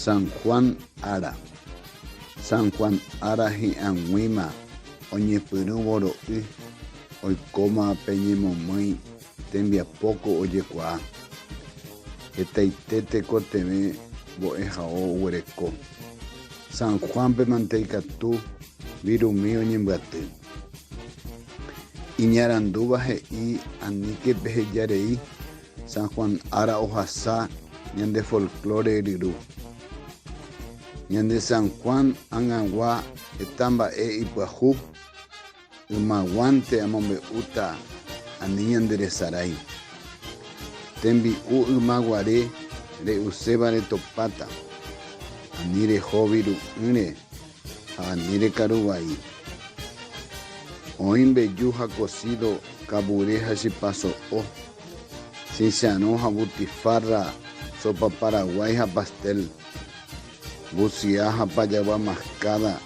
San Juan ára. San Juan ára hi'ag̃uíma oñepyrũ voro'y oikóma pe ñemomýi tembiapóko ojekuaa. Hetaite tekotevẽ mbo'ehao oguereko. San Juan-pe mante ikatu virumi oñembyaty. Iñarandúva he'i aníke peheja rei San Juan ára ohasa ñande folklore ryru. Ñande San Juan ag̃agua heta mba'e ipyahu, ymaguánte amombe'úta ani ñanderesarái. Tembi'u yma guare re'uséva retopáta, ani rehóvi ru'ỹre ha ani rekaru vai. Oĩ mbeju ha kosído kavure ha chipa so'o. Chicharrón ha butifarra, sopa paraguái ha pastel, busiá ha pajagua mascada,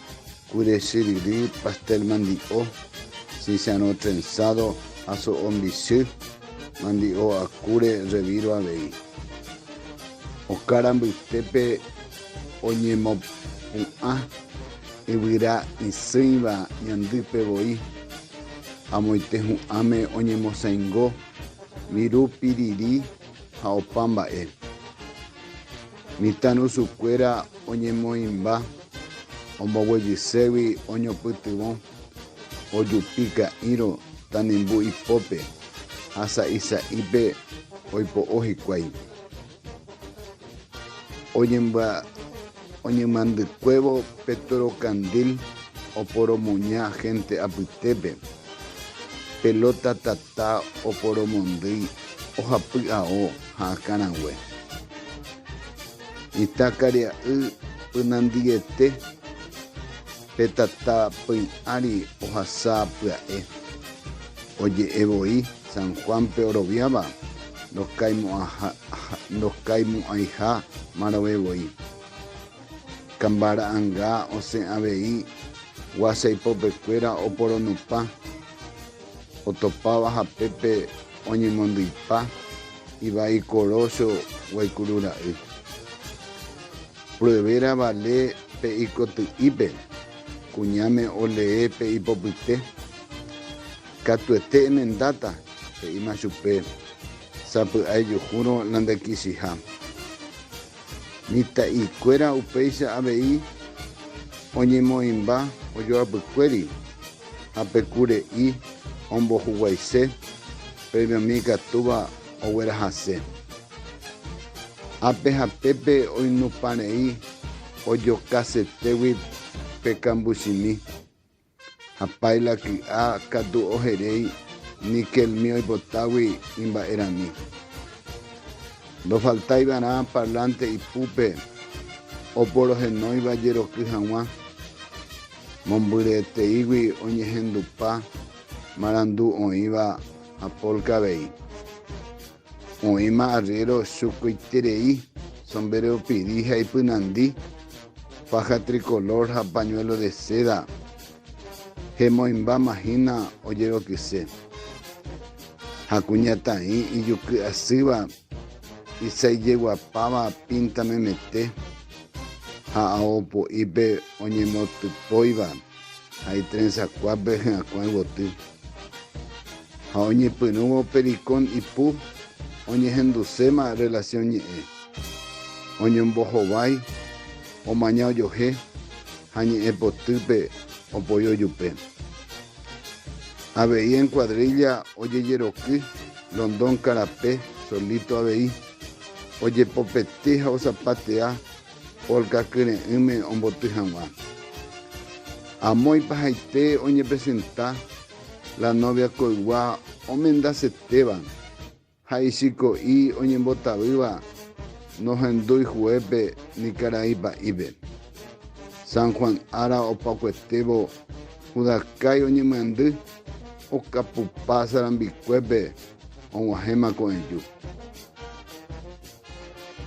kure chyryry, pastel mandi'o, chicharrón trenzado ha so'o mbichy, mandi'o ha kure revírõ avei. Oka rambytépe oñemopu'ã yvyra isỹiva ñandýpe voi. Amoite hu'ãme oñemosaingo viru piriri ha opa mba'e. Mitãrusukuéra oñemoĩmba, omboguejységui oñopytyvõ, ojupi ka'írõ tanimbu ipópe ha sa'i sa'ípe oipo'o hikuái. oñemandykuévo petrokandil oporomoña hénte apytépe, pelóta tata oporomondýi ohapy ao ha akãrague, mitãkaria'y pynandiete. Pe tata py ári ohasa pya'e, oje'e voi San Juánpe oroviáva ndokaymo'ãiha marove voi. Kamba ra'anga osẽ avei gua chaipopekuéra oporonupã, otopáva hapépe oñemondyipa ivai Korocho guaikuru ra'y. Pruebe ravale pe ikoty'ípe, kuñáme olee pe ipopyte. Katuete emendáta, he'íma chupe, sapy'aejuhúrõ la ndekichiha. Mitã'íkuéra upéicha avei oñemoĩmba ojoapykuéri ha pe kure'i ombohuguaise, premiomi ikatúva oguerahase. Ápe ha pépe oinupãrei ojokasetégui pe kambuchimi, ha páila ky'a katu oheréi níkelmi oipotágui imba'erami. Ndofaltáivarã parlánte ipúpe oporohenóiva jeroky hag̃ua, mombyryeteígui oñehendupa marandu oĩva ha pólka avei. Oĩma arriero chuguiterei, sombéreo piri ha ipynandi, paja tricolor ha pañuelo de seda, hemoĩmbáma hína ojerokyse. Ha kuñataĩ ijuky asýva isaijeguapáva pinta memete ha ao po'ípe oñemotypóiva. ha itrensakuápe hyakuã yvoty, ha oñepyrũvo pericón ipu oñehenduséma relación ñe'ẽ, oñombohovái, omaña ojohe ha ñe'ẽ potýpe opoi ojupe. Avei en cuadrilla ojejeroky London Carapé solito avei, ojepopety ha osapatea Polka kyre'ỹme omboty hag̃ua. Amoipa haite oñepresenta la novia koygua omendasetéva ha ichiko'i oñembotavýva nohendúi juépe ni karai pa'ípe. San Juan ára opakuetévo Judakái oñemyandy okapupa sarambikuépe og̃uahẽma ko'ẽju.